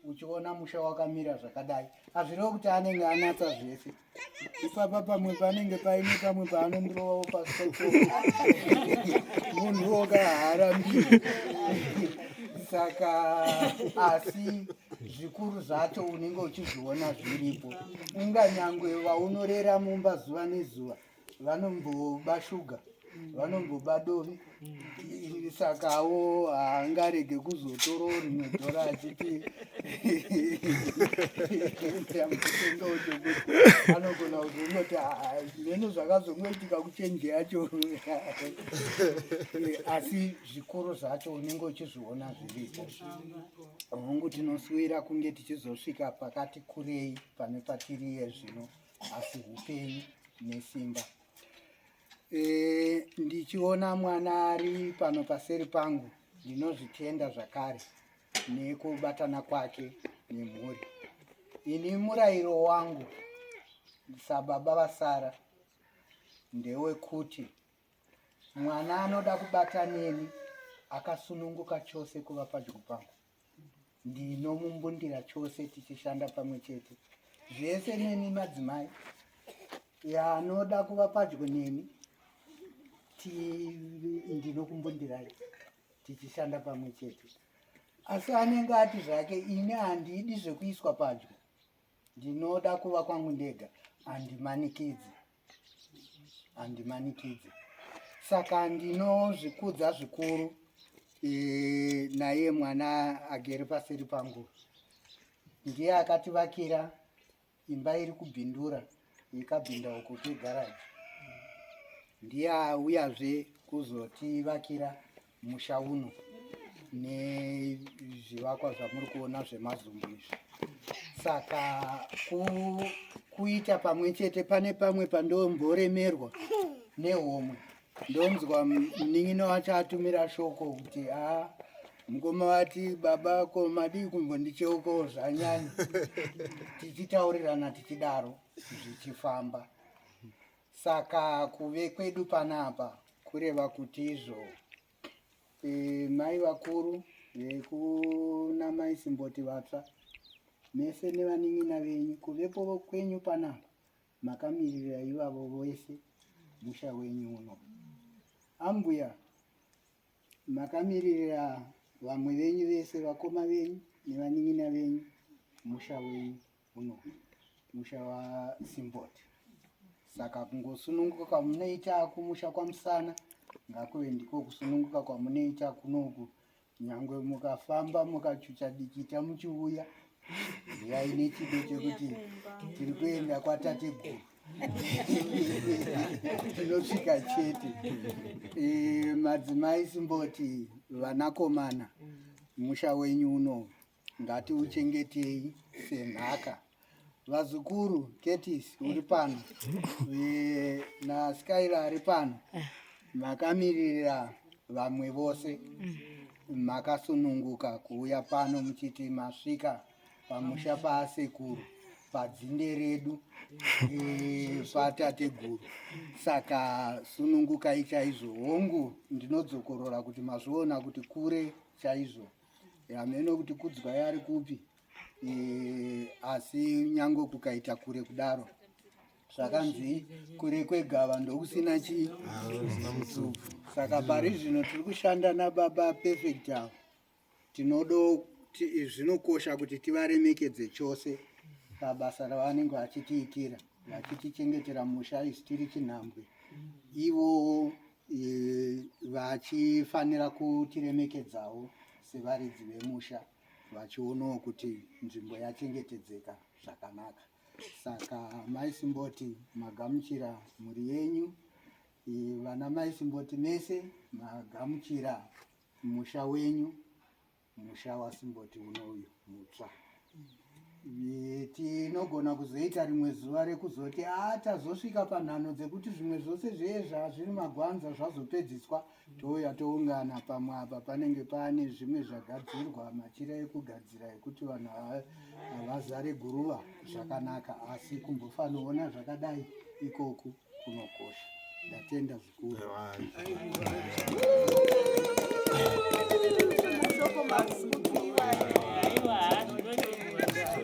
uchiona musha wakamira zvakadai azvireva kuti anenge anatsa zvese ipapa pamwe panenge paine pamwe paanondirovawo pasoko munhu woka haarambiri saka asi zvikuru zvacho unenge uchizviona zviripo unganyangwe vaunorera mumba zuva nezuva vanomboba shuga vanomboba dovi sakawo haangarege kuzotora rimwe dora achiti anogona kuzongoti zvimene zvakazongoitika kuchenje yacho asi zvikuru zvacho unenge uchizviona zviripo hongu tinosuvira kunge tichizosvika pakati kurei pane patiriye zvino asi upenyu nesimba e, ndichiona mwana ari pano paseri pangu ndinozvitenda zvakare nekubatana kwake nemhuri ini murayiro wangu sababa vasara ndewekuti mwana anoda kubata neni akasununguka chose kuva padyo pangu ndinomumbundira chose tichishanda pamwe chete zvese neni madzimai yanoda kuva padyo neni ndinokumbundirai tichishanda pamwe chete asi anenge ati zvake ini handidi zvekuiswa padyo ndinoda kuva kwangu ndega handimanikidzi handimanikidze saka ndinozvikudza zvikuru e, naye mwana agere paseri pangu ndiye akativakira imba iri kubhindura ikabhinda uko kegaraji ndiye auyazve kuzotivakira musha uno nezvivakwa zvamuri kuona zvemazumbu izvi saka ku, kuita pamwe chete pane pamwe pandomboremerwa nehomwe ndonzwa munin'ina wacho atumira shoko kuti a mukoma vati baba ko madii kumbondicheukawo zvanyanya tichitaurirana tichidaro zvichifamba Saka kuve kwedu panapa kureva kuti izvo e, mai vakuru vekuna mai Simboti vatsva mese nevanin'ina venyu kuvepo kwenyu panapa makamiririra ivavo vese musha wenyu uno ambuya makamiririra vamwe venyu vese vakoma venyu nevanin'ina venyu musha wenyu uno musha wasimboti saka kungosununguka kwamunoita kumusha kwamusana ngakuve ndiko kusununguka kwamunoita kunoku nyangwe mukafamba mukachucha dikita muchiuya yai nechido chekuti tiri kuenda kwatate guru tinosvika chete e, madzimai simboti vanakomana musha wenyu uno Ngatiuchengetei senhaka. Vazukuru Curtis uri pano eh, naSkyla ari pano makamirira vamwe vose makasununguka kuuya pano muchiti masvika pamusha paasekuru padzinde redu eh, patateguru saka sunungukai chaizvo hongu ndinodzokorora kuti mazviona kuti kure chaizvo hameno kuti kudzwa yari kupi eh, asi nyange kukaita kure kudaro zvakanzi kure kwegava ndokusina chii saka pari zvino tiri kushanda nababa perfect avo tinodo zvinokosha kuti tivaremekedze chose pabasa ravanenge vachitiitira vachitichengetera musha isi tiri chinhambwe ivo vachifanira kutiremekedzawo sevaridzi vemusha vachionawo kuti nzvimbo yachengetedzeka zvakanaka saka mai simboti magamuchira mhuri yenyu vana mai simboti mese magamuchira musha wenyu musha wasimboti uno uyu mutsva tinogona kuzoita rimwe zuva rekuzoti a tazosvika panhano dzekuti zvimwe zvose zvee zvazviri magwanza zvazopedziswa touya toungana pamwe apa panenge paane zvimwe zvagadzirwa machira ekugadzira ekuti vanhu havazare guruva zvakanaka asi kumbofanoona zvakadai ikoku kunokosha. Ndatenda zvikuru. Thank you.